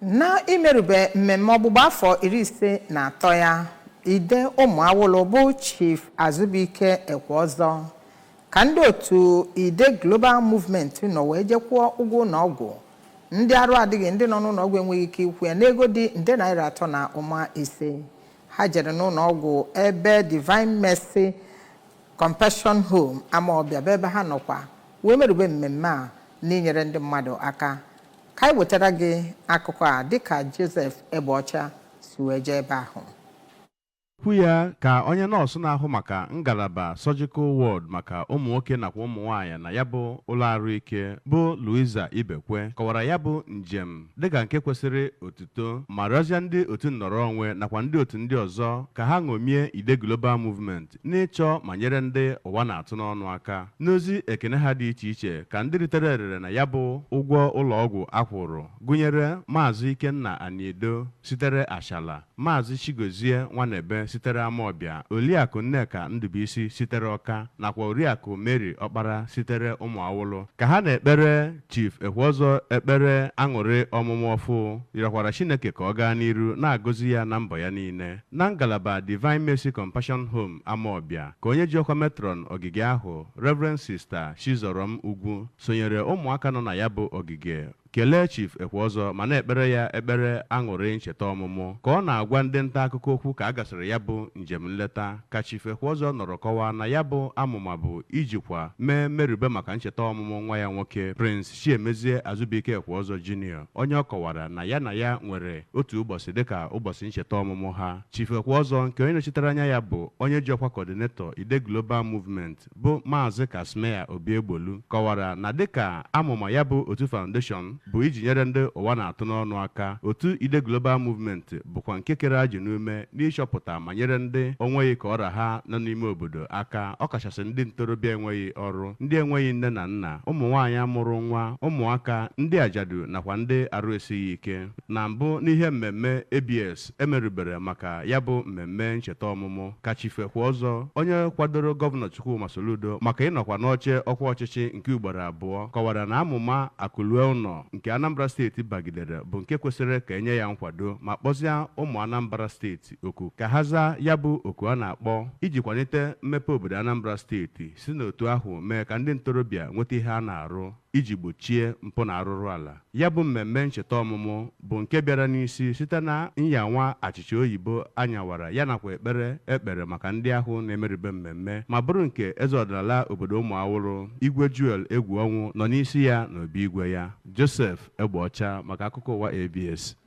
Na imerube mmemme ọgbụgba afọ iri ise na atọ ya, Ide Ụmụ Awụlụ bụ Chief Azụbụike Ekweọzọ ka ndị otu Ide Global Movement nọ wee jekwụọ ụgwọ ụlọọgwụ ndị arụ adịghị ndị nọ n'ụlọọgwụ enweghị ike ịkwụ ya n'ego dị nde naira atọ na ụma ise. Ha jere n'ụlọọgwụ ebe Divine Mercy Compassion Home Amaọbịa bụ ebe ha nọkwa wee merube mmemme a n'inyere ndị mmadụ aka ka anyị wetara gị akụkọ a dịka Joseph Egbeọcha si wee jee ebe ahụ Kwu ya ka onye nọọsụ na-ahụ maka ngalaba surgical ward maka ụmụ nwoke nakwa ụmụ nwaanyị na ya bụ ụlọ arụike bụ Louisa Ibekwe kọwara ya bụ njem dịka nke kwesịrị otuto ma rịọzịa ndị otu nnọrọ onwe nakwa ndị otu ndị ọzọ ka ha ṅomie Ide Global Movement n'ịchọ ma nyere ndị ụwa na-atụ n'ọnụ aka. N'ozi ekene ha dị iche iche ka ndị ritere erere na ya bụ ụgwọ ụlọọgwụ a kwụrụ gụnyere Maazị Ikenna Aniedo sitere Achalla, Maazị Chigozie Nwanebe sitere Amawbịa, Oliakụ Nneka Ndụbụisi sitere Ọka nakwa Oriakụ Mary Ọkpara sitere Ụmụawụlụ. Ka ha na-ekpere Chief Ekweọzọ ekpere aṅụrị ọmụmụ ọfụụ, rịọkwara Chineke ka ọ gaa n'iru na-agọzi ya na mbọ ya niile. Na ngalaba Divine Mercy Compassion Home Amawbia ka onye ji ọkwa Matron ogige ahụ, Rev. Sista Chizorom Ugwu sonyere ụmụaka nọ na ya bụ ogige kelee Chief Ekweọzọ ma na-ekpere ya ekpere aṅụrị ncheta ọmụmụ. Ka ọ na-agwa ndị ntaakụkọ okwu ka a gasịrị ya bụ njem nleta ka Chief Ekweọzọ nọrọ kọwaa na ya bụ amụma bụ ijikwa mee mmerube maka ncheta ọmụmụ nwa ya nwoke, Prince. Chiemezie Azubuike Ekweọzọ Junior, onye ọ kọwara na ya na ya nwere otu ụbọchị dịka ụbọchị ncheta ọmụmụ ha. Chief Ekweọzọ nke onye nọchitere anya ya bụ onye ji ọkwa Coordinator Ide Global Movement bụ Maazị Casmir Obiegbolu kọwara na dịka amụma ya bụ otu Foundation bụ iji nyere ndị ụwa na-atụ n'ọnụ aka, otu Ide Global Movement bụkwa nke kere ajị n'ume n'ịchọpụta ma nyere ndị o nweghị ka ọ ra ha nọ n'ime obodo aka, ọ kachasị ndị ntorobịa enweghị ọrụ, ndị enweghị nne na nna, ụmụnwaanyị mụrụ nwa, ụmụaka, ndị ajadu nakwa ndị arụ esighị ike. Na mbụ n'ihe mmemme ABS e merubere maka ya bụ mmemme ncheta ọmụmụ, ka Chief Ekweọzọ, onye kwadoro Gọvanọ Chukwuma Soludo maka ịnọkwa n'oche ọkwa ọchịchị nke ugboro abụọ, kọwara na amụma Akụlue Ụnọ nke Anambra steeti bagidere bụ nke kwesịrị ka e nye ya nkwado ma kpọzịa ụmụ Anambra steeti. steeti oku ka ha zaa ya bụ oku a na-akpọ iji kwalite mmepe obodo Anambra steeti si n'otu ahụ mee ka ndị ntorobịa nweta ihe a na-arụ iji gbochie mpụ na arụrụala. Ya bụ mmemme ncheta ọmụmụ bụ nke bịara n'isi site na nyawa achịcha oyibo a nyawara ya nakwa ekpere e kpere maka ndị ahụ na-emerube mmemme ma bụrụ nke eze ọdịnala obodo Ụmụawụrụ, Igwe Joel Egwuọnwụ nọ n'isi ya n'obi igwe ya. Joseph Egbeọcha maka akụkọ ụwa ABS.